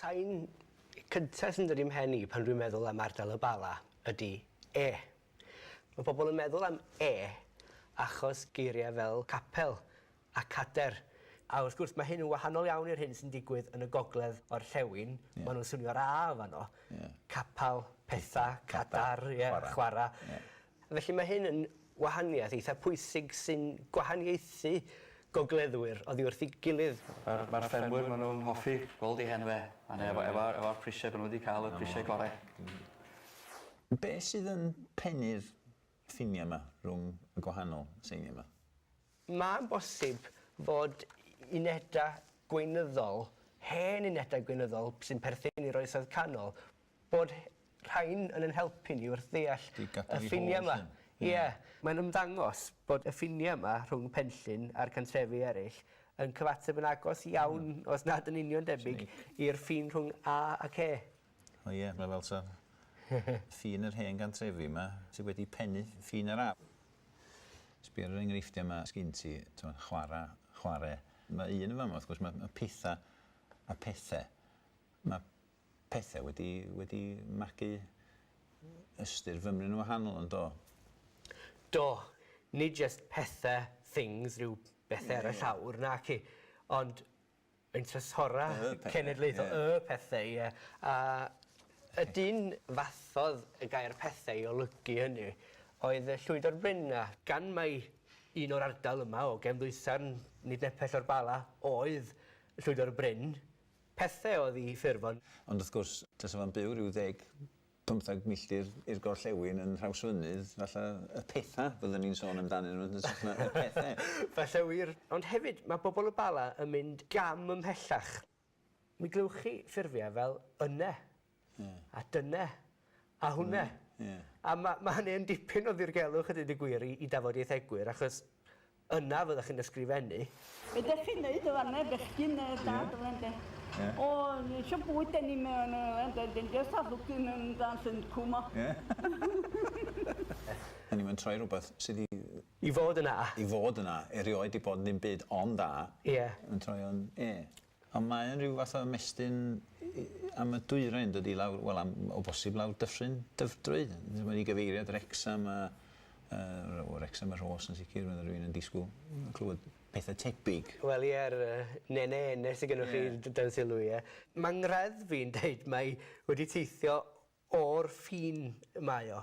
Sain cynta sy'n dod i'm mhen i pan dwi'n meddwl am ardal y Bala ydi 'e'. Mae pobl yn meddwl am 'e' achos geiriau fel 'capel' a 'cader'. A wrth gwrs mae hyn yn wahanol iawn i'r hyn sy'n digwydd yn y gogledd orllewin, maen nhw'n swnio'r 'a' fanno, 'capal', 'petha', 'cadar', 'chwara'. Felly mae hyn yn wahaniaeth eitha pwysig sy'n gwahaniaethu gogleddwyr oddi wrth ei gilydd. Mae'r ffermwyr, maen nhw'n hoffi gweld eu hen dde, a hynny efo'r prisiau maen nhw wedi cael, y prisiau gorau. Be sydd yn pennu'r ffiniau yma rhwng y gwahanol seiniau yma? Mae'n bosib fod unedau gweinyddol, hen unedau gweinyddol sy'n perthyn i'r Oesoedd Canol, Bod rhain yn ein helpu ni wrth ddeall y ffiniau yma. Ie. Mae'n ymddangos bod y ffiniau yma rhwng Penllyn a'r cantrefi eraill yn cyfateb yn agos iawn, os nad yn union debyg, i'r ffin rhwng A ac E. O ie, mae fel ta ffin yr hen gantrefi yma sydd wedi pennu ffin yr A. Sbia ar yr enghreifftiau yma sgin ti, timod, chwarae, chware. Mae un yn fama, wrth gwrs, mae pethau a pethau. Mae pethe wedi wedi magu ystyr fymryn yn wahanol yn do? Do, nid jest pethe, things, rhyw bethe ar y llawr, naci, ond ein Trysora Cenedlaethol, y pethe, ie, a y dyn fathodd y gair pethe i olygu hynny oedd y Llwydor Bryn a, gan mai un o'r ardal yma o gefn ddwysarn nid nepell o'r Bala oedd Llwydor Bryn, Pethau oedd i ffurfo'r. Ond wrth gwrs, tasa fo'n byw ryw ddeg, pymtheg milltir i'r gorllewin yn Nhrawsfynydd, falle y pethau fyddwn ni'n sôn amdanyn nhw yn hytrach na y pethau. Falle wir. Ond hefyd, mae bobl y Bala yn mynd gam ymhellach. Mi glywch chi ffurfiau fel 'yna', A dyna. A hwnna. A ma' ma' hynny yn dipyn o ddirgelwch a deud y gwir i i dafodieithegwyr achos yna fyddech chi'n ysgrifennu. Be' 'dach chi'n neud yn fan 'na bechgyn yy dad yma ynde? Ie. O ni isio bwyd 'dan ni'm yn yy yy ynde 'dan ni jyst a lwcyn yn dan syndco 'ma. Ie. O'n i'm yn troi rwbeth sy 'di yy... I fod yn A. I fod yn A. Erioed 'di bod ddim byd ond A. Ie. Yn troi o'n E. Ond mae e'n rhyw fath o ymestyn am y dwyrain, yn dydi, lawr, wel, am, o bosib lawr Dyffryn Dyfrdwy. Mae wedi gyfeirio at Wrecsam a, uh, Wrecsam y Rhos yn sicr, mae rhywun yn disgwyl clywed pethau tebyg. Wel, ie, yr uh, nene enne sydd gennych yeah. chi dan sylw, ie. Mae ngredd fi'n deud mae wedi teithio o'r ffin mae o.